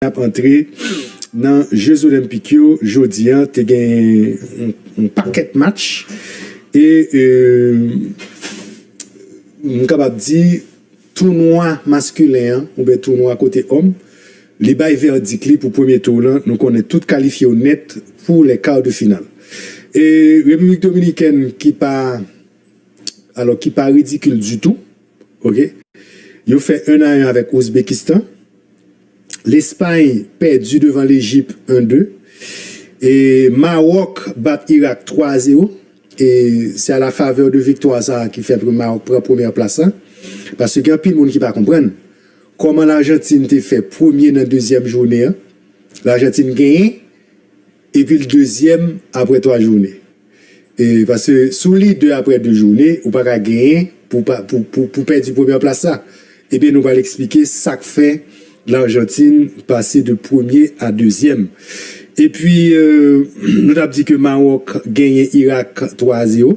y ap antre nan je zolenpik yo jodi an te gen yon pakèt match e m kapab di tounwa maskilen an oubyen tounwa kote òm li bay vèdik li pou premye tou lan nou konnen tout kalifye yo nèt pou lè kar de final e repiblik dominikèn ki pa alò ki pa ridikil ditou ok yo fè 1 a 1 avèk ouzbekistan. Lespay pèdi devan Lejip 1 2 e Mawòk bat Irak 3 a 0 e se a la favè de viktwa sa ki fè pou Mawòk pran premyè plas la paske gen anpil moun ki pa konprann kòman Lajantin te fè premye nan dezyèm jounen an Lajantin genyen Epi l dezyèm apre twa joune. E paske si w lidè apre de joune, ou pa ka genyen pou w pèdi premyè plas la. Ebyen nou pral eksplike sa k fè Larjantin pase de premye a dezyèm. Epi nou t ap di ke Mawòk genyen Irak 3 a 0.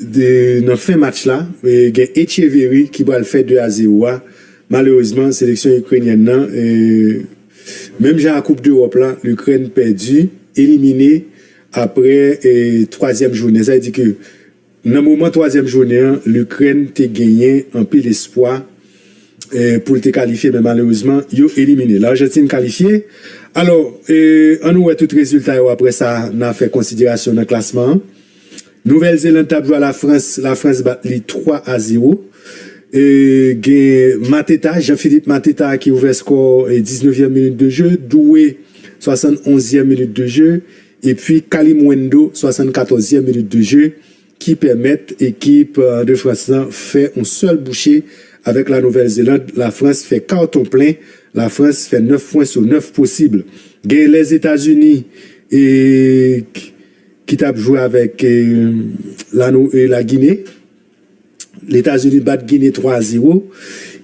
Nan fen match la, gen Etcheverry ki pral fè 2 a 0 a. Malerezman, seleksyon Ikrenyèn nan, menm jan a koup dEròp la, Likrèn pèdi, elimine apre twazyèm jounen. Sa vle di ke nan moman twazyèm jounen an, Likrèn te genyen anpil espwa pou l te kalifye men malerezman yo elimine. Larjantin kalifye. Alò, an nou wè tout rezilta yo apre sa nan fè konsiderasyon nan klasman an. Nouvèl Zeland tap jwe a la Frans, la Frans bat li 3 a 0. E gen Mateta, Jean Philippe Mateta ki ouvè skò 19 yèm minit de je, Doué 71 yèm minit de je, epi Kalimuendo 74 yèm minit de je ki pèmèt ekip de Frans lan fè yon sèl bouche avèk la Nouvèl Zeland, la Frans fè karton plen, la Frans fè 9 pwen sou 9 posib. Gen Lèzetazini e. ki tap jwe avèk La Gine, Letazini bat Gine 3 a 0,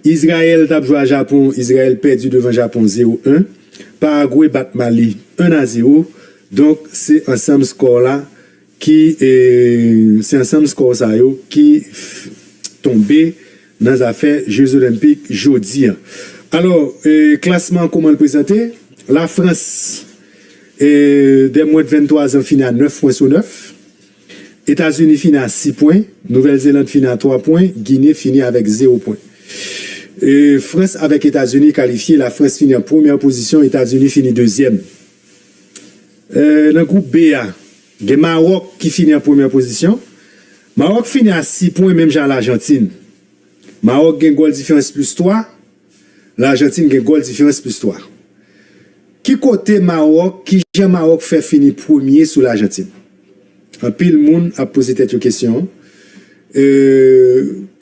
Izrayèl tap jwe a Japon, Izrayèl pèdi devan Japon 0 1, Paragwe bat Mali 1 a 0, donk se ansanm skò la ki se ansanm skò sa yo ki tonbe. nan zafè je zolenpik jodi an alò klasman an kouman l prezante la frans e dè mwens de 23 zan fini a 9 pwen sou 9 etazini fini a 6 pwen nouvèl zeland fini a 3 pwen gine fini avèk 0 pwen e frans avèk etazini kalifye la frans fini an premyè pozisyon etazini fini dezyèm e nan gwoup b a. Gen Mawòk ki fini an premyè pozisyon. Mawòk fini a 6 pwen menm jan a Lajantin. Mawòk gen gòl diferans plis 3, Lajantin gen gòl diferans plis 3. Ki kote Mawòk, ki jan Mawòk fè fini premye sou Lajantin? Anpil moun ap poze tèt yo kesyon an. E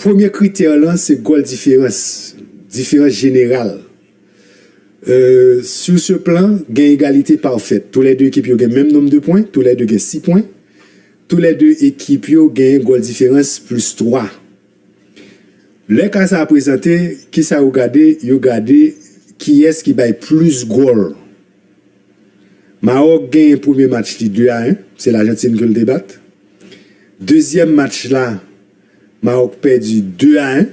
premye kritè lan se gòl diferans, diferans jeneral. Sur ce plan, gen egalite pafèt. Tou lè 2 ekip yo gen menm nonm de pwen, tou lè 2 gen 6 pwen. Tou lè 2 ekip yo genyen gòl diferans plis 3. Lè ka sa a prezante, ki sa yo gade? Yo gade kiyès ki bay plis gòl. Mawòk genyen premye match li 2 a 1, se Lajantin ke l te bat. Dezyèm match la, Mawòk pèdi 2 a 1.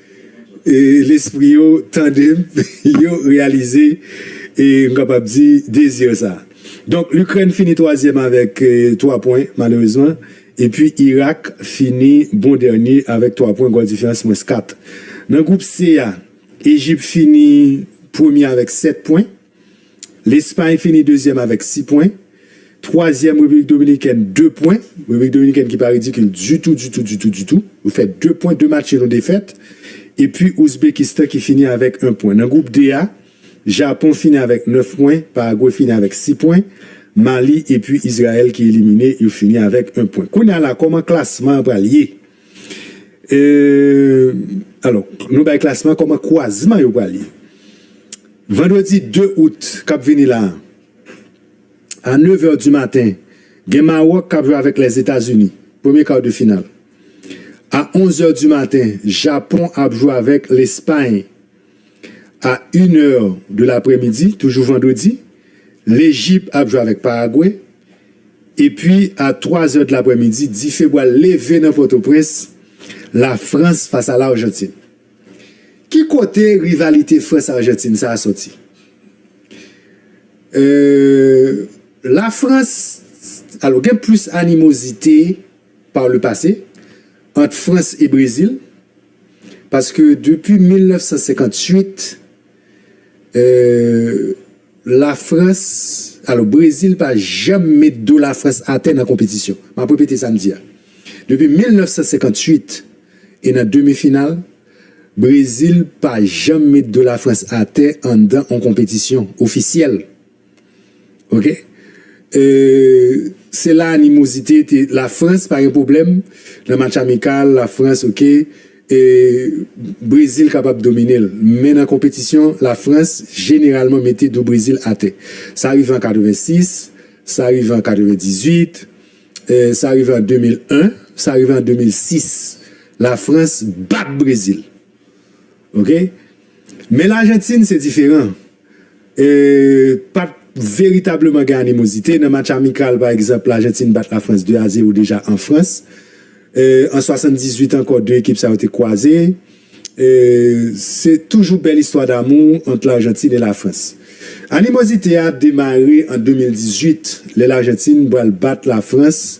E lespri yo tande m, yo reyalize, e m kapab di, dezir sa. Donk, Likrèn fini twazyèm avèk twa pwen, malerezman, epi Irak fini bon dènye avèk twa pwen, gòl diferans mwens kat. Nan gwoup C a, Ejip fini premye avèk sèt pwen. Lespay fini dezyèm avèk 6 pwen. Twazyèm Repiblik Dominikèn 2 pwen. Repiblik Dominikèn ki pa ridikil ditou, ditou, ditou, ditou. Yo fè 2 pwen, 2 match nul, 1 defèt. Epi Ouzbekistan ki fini avèk 1 pwen. Nan gwoup D a, Japon fini avèk 9 pwen, Paragwe fini avèk 6 pwen, Mali epi Izrayèl ki elimine yo fini avèk 1 pwen. Kounye a la, kòman klasman an pral ye? Alò, nou bay klasman kòman kwazman yo pral ye. Vandredi 2 out k ap vini la a 9 è di maten, gen Mawòk k ap jwe avèk Lèzetazini, premye kar de final. A 11 è di maten, Japon ap jwe avèk Lespay. A yn è de laprè midi toujou vandredi Lejip ap jwe avèk Paragwe epi a twa zè dlaprè midi dife pral leve nan Pòtoprens Lafrans fas a Larjantin. Ki kote rivalite Frans Arjantin sa a sòti? Eeuh Lafrans alò gen plis animozite par le pase ant Frans e Brezil. Paske depi 1958 euh la frans alò brezil pa janm met do la frans atè nan konpetisyon map repete sa m di a depi 1958 e nan demi final brezil pa janm met do la frans atè anndan on konpetisyon ofisyèl. Ok Se la animozite te La frans pa gen pwoblèm Nan match amikal la frans ok Brezil kapab domine l Men nan konpetisyon la frans jeneralman mete do brezil atè Sa rive an 86 Sa rive an 98 Sa rive an 2001 Sa rive an 2006 La frans bat brezil Ok Men lajantin se diferan Pa t veritableman gen animozite. Nan match amikal, pa egzanp, Lajantin bat Lafrans 2 a 0 deja an Frans. An 78 ankò, 2 ekip sa yo te kwaze. Se toujou bèl istwa damou ant Lajantin e Lafrans. Animozite a demare an 2018, lè Lajantin pral bat Lafrans.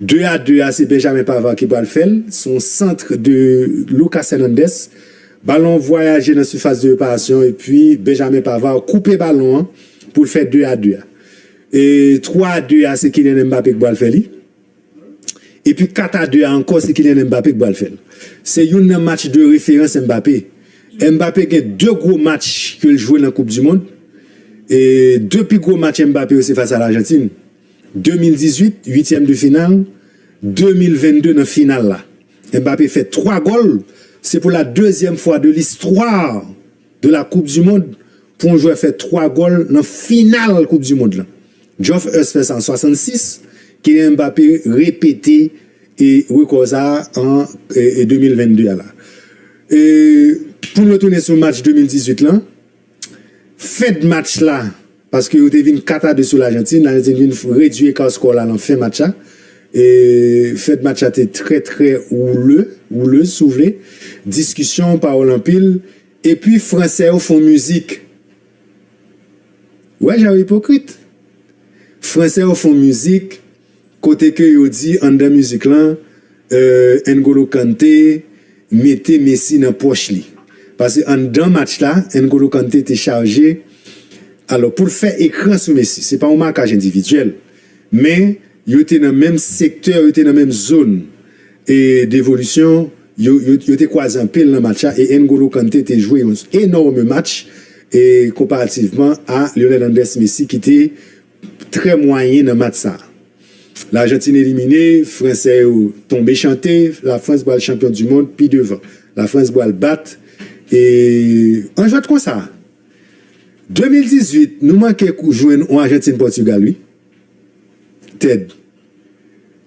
2 a 2 a se Benjamin Pavard ki pral fèl, son centre de Lucas Hernandez, balon vwayaje nan surface de reparation epi Benjamin Pavard koupe balon an poul fè 2 a 2 a. E 3 a 2 a se Kylian Mbappé ki pral fè li. Epi 4 a 2 a ankò se Kylian Mbappé ki pral fèl. Se youn nan match de referans Mbappé. Mbappé gen 2 gwo match kel jwe nan koup du mond. E 2 pi gwo match Mbappé yo se fas a L'Argentine. 2018, uityèm de final, 2022 nan final la, Mbappé fè 3 gòl, se pou la dezyèm fwa de listwa de la koup di mond pou yon jwè fè 3 gòl nan final koup di mond lan. Geoff Hurst fè sa an 66, Kylian Mbappé repete rekò sa an 2022 a la. Pou n retounen sou match 2018 lan. Fed match la paske yo te vin 4 a 2 sou Lajantin, Lajantin vin redui eka skò la lan fen match la e fed match la te trè trè woule, wouleuse si w vle, diskisyon, pawòl anpil epi fransè yo fon mizik wè jan yo ipokrit fransè yo fon mizik. Kote ke yo di anndan mizik lan euh N'Golo Kanté mete Messi nan pòch li. Pase anndan match la N'Golo Kanté te chaje alò pou l fè ekran sou Messi. Se pa yon makaj endividyèl men yo te nan menm sektè, yo te nan menm zòn devolisyon, yo te kwaze anpil nan match la e N'Golo Kanté te jwe yon enòme match konparativman a Lionel Andrès Messi ki te Trè mwayen nan match sa. Lajantin elimine, fransè yo tonbe chante, Lafrans pral chanpyon du mond pi devan. Lafrans bwal bat e an jwèt konsa. 2018 nou manke jwenn on Ajantin Pòtugal wi Ted.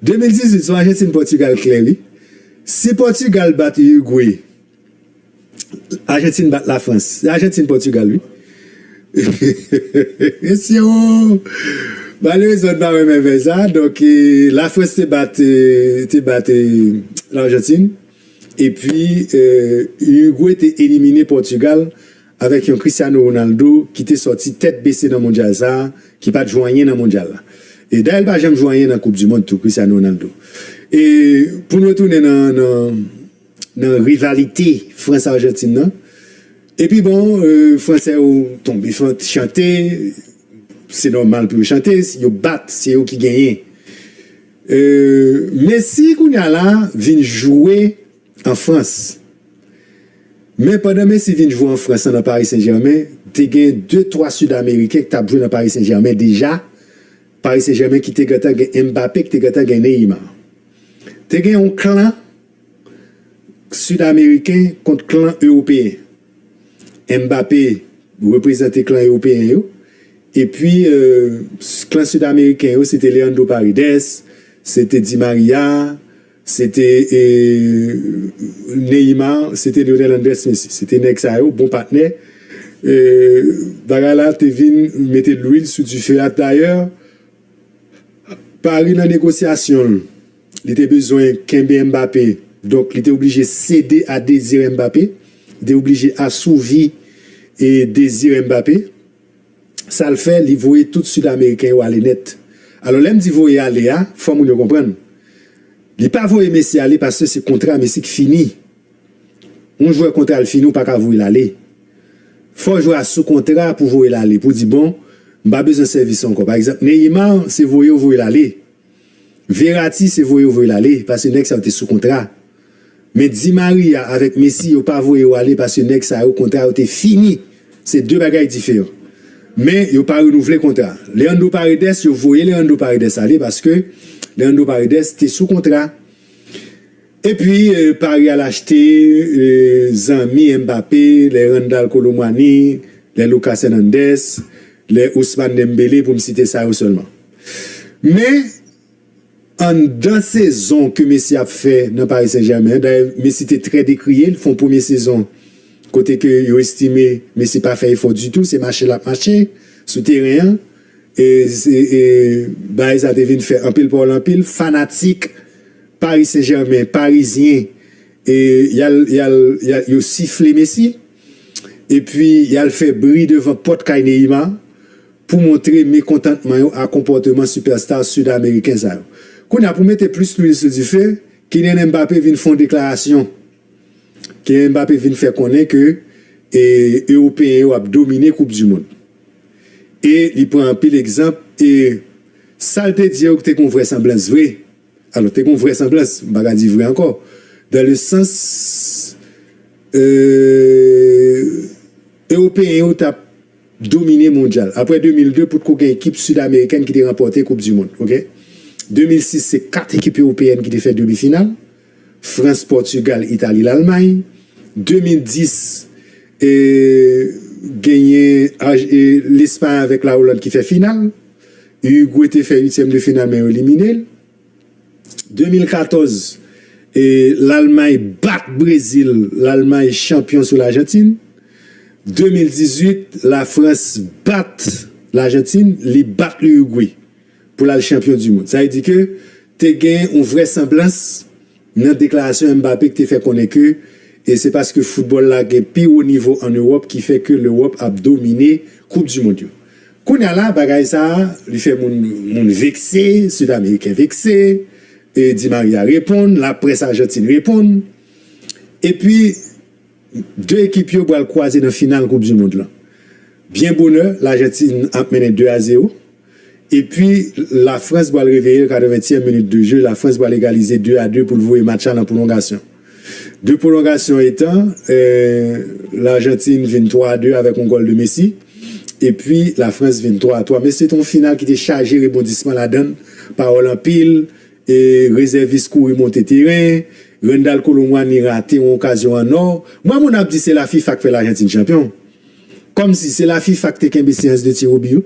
2018 son Ajantin Pòtugal klè wi. Si Pòtugal bat Urugwe Argentine bat la France. Se Argentine Portugal wi. Mesye wo. Malerezman m pa renmen vèy sa. Donk la France te bat te bat l'Argentine. E pi Uruguay te elimine Portugal avèk yon Cristiano Ronaldo ki te sòti tèt bese nan mondyal sa. Ki pat jwe anyen nan mondyal la. E dayè l pa janm jwe anyen nan koup du mond tou Cristiano Ronaldo. E pou n retounen nan nan. nan rivalite Frans Arjantin nan epi bon fransè yo tonbe chante se nòmal pou yo chante yo bat se yo ki genyen Messi kounya la vin jwe an Frans men pandan Messi vin jwe an Frans nan Paris Saint Germain te gen 2 3 Sud Ameriken ki tap jwe nan Paris Saint Germain deja Paris Saint Germain ki te gentan gen Mbappé ki te gentan gen Neymar te gen yon klan Sud ameriken kont klan ewopeyen. Mbappé reprezante klan ewopeyen yo epi klan sud ameriken yo se te Leandro Paredes, se te Di Maria, se te Neymar, se te Lionel Andres Messi. Se te nèg sa yo bon patnè. Bagay la te vin mete lwil sou dife a dayè. Paris nan negosyasyon l, li te bezwen kenbe Mbappé, donk li te oblije sede a dezi Mbappé, li te oblije asouvi e dezi Mbappé, sa l fè li voye tout sud ameriken yo ale nèt. Alò lè m di voye ale a, fò moun yo konprann, li pa voye Messi ale paske se kontra Messi k fini. Yon jwè kontra l fini ou pa ka voye l ale. Fò jwè a sou kontra pou voye l ale, pou di bon, m pa bezwen sèvis ou ankò. Pa egzanp, Neymar se voye ou voye l ale. Verratti se voye ou voye l ale paske nèg sa yo te sou kontra. Men Di Maria avèk Messi yo pa voye yo ale paske nèg sa yo kontra yo te fini. Se 2 bagay diferan. Men yo pa renouvle kontra. Leandro Paredes yo voye Leandro Paredes ale paske Leandro Paredes te sou kontra. Epi Paris al achte zanmi Mbappé, les Randal Kolo Muani, les Lucas Hernandez, les Ousmane Dembélé pou m site sa yo sèlman. Men anndan sezon ke Messi ap fè nan Paris Saint Germain an, dayè Messi te trè dekriye, l fon premye sezon kote ke yo estime Messi pa fè efò ditou, se mache l ap mache sou teren an. Baay sa te vin fè anpil pawòl anpil fanatik Paris Saint Germain, Parisien yo sifle Messi epi yal fè bri devan pòt kay Neymar pou montre mekontantman yo a konpòteman Superstar Sud Ameriken sa yo. Kounya pou mete plis lwil sou dife, Kylian Mbappé vin fè yon deklarasyon. Kylian Mbappé vin fè konnen ke Ewopeyen yo ap domine koup du mond. E li pran anpil egzanp e sa l te di yo te gen yon vrè sanblans vre. Alò te gen yon vrè sanblans, m pa ka di vre ankò, dan le sans Ewopeyen yo t ap domine mondyal. Aprè 2002 potko gen ekip Sid Amerikèn ki te ranpòte koup du mond. Ok. 2006 se 4 ekip Ewopeyèn ki te fè demi final. Frans, Pòtigal, Itali, Lalmay, 2010, genyen Lespay avèk Lawoland ki fè final, Urigwe te fè uityèm de final men yo elimine l, 2014, Lalmay bat Brezil, Lalmay chanpyon sou Lajantin, 2018, Lafrans bat Lajantin, li bat Urigwe. pou l al chanpyon di mond. Sa vle di ke te gen yon vrèsanblans nan deklarasyon Mbappé ki te fè konnen ke se paske foutbòl la gen pi wo nivo an Ewòp ki fè ke Lewòp ap domine koup di mond yo. Kounye a la bagay sa a li fè moun vekse, Sidameriken vekse, Di Maria reponn, laprès Ajantin reponn epi. 2 ekip yo pral kwaze nan final koup du mond lan. Byen bonè Lajantin ap mennen 2 a 0 epi la Frans pral reveyel 80 tièm minit de jeu la Frans pral egalize 2 a 2 poul voye match la nan pwolongasyon. 2 pwolongasyon etan Lajantin vin 3 a 2 avèk yon gòl de Messi epi la Frans vin 3 a 3 men se te yon final ki te chaje rebondisman ladann pawòl anpil rezèvis kouri monte teren Randal Kolo Muani rate yon okazyon an or, m wè moun ap di se la fifa k fè l Argentine chanpyon. Kòmsi se la fifa k te kenbe seyans de ti Roby yo.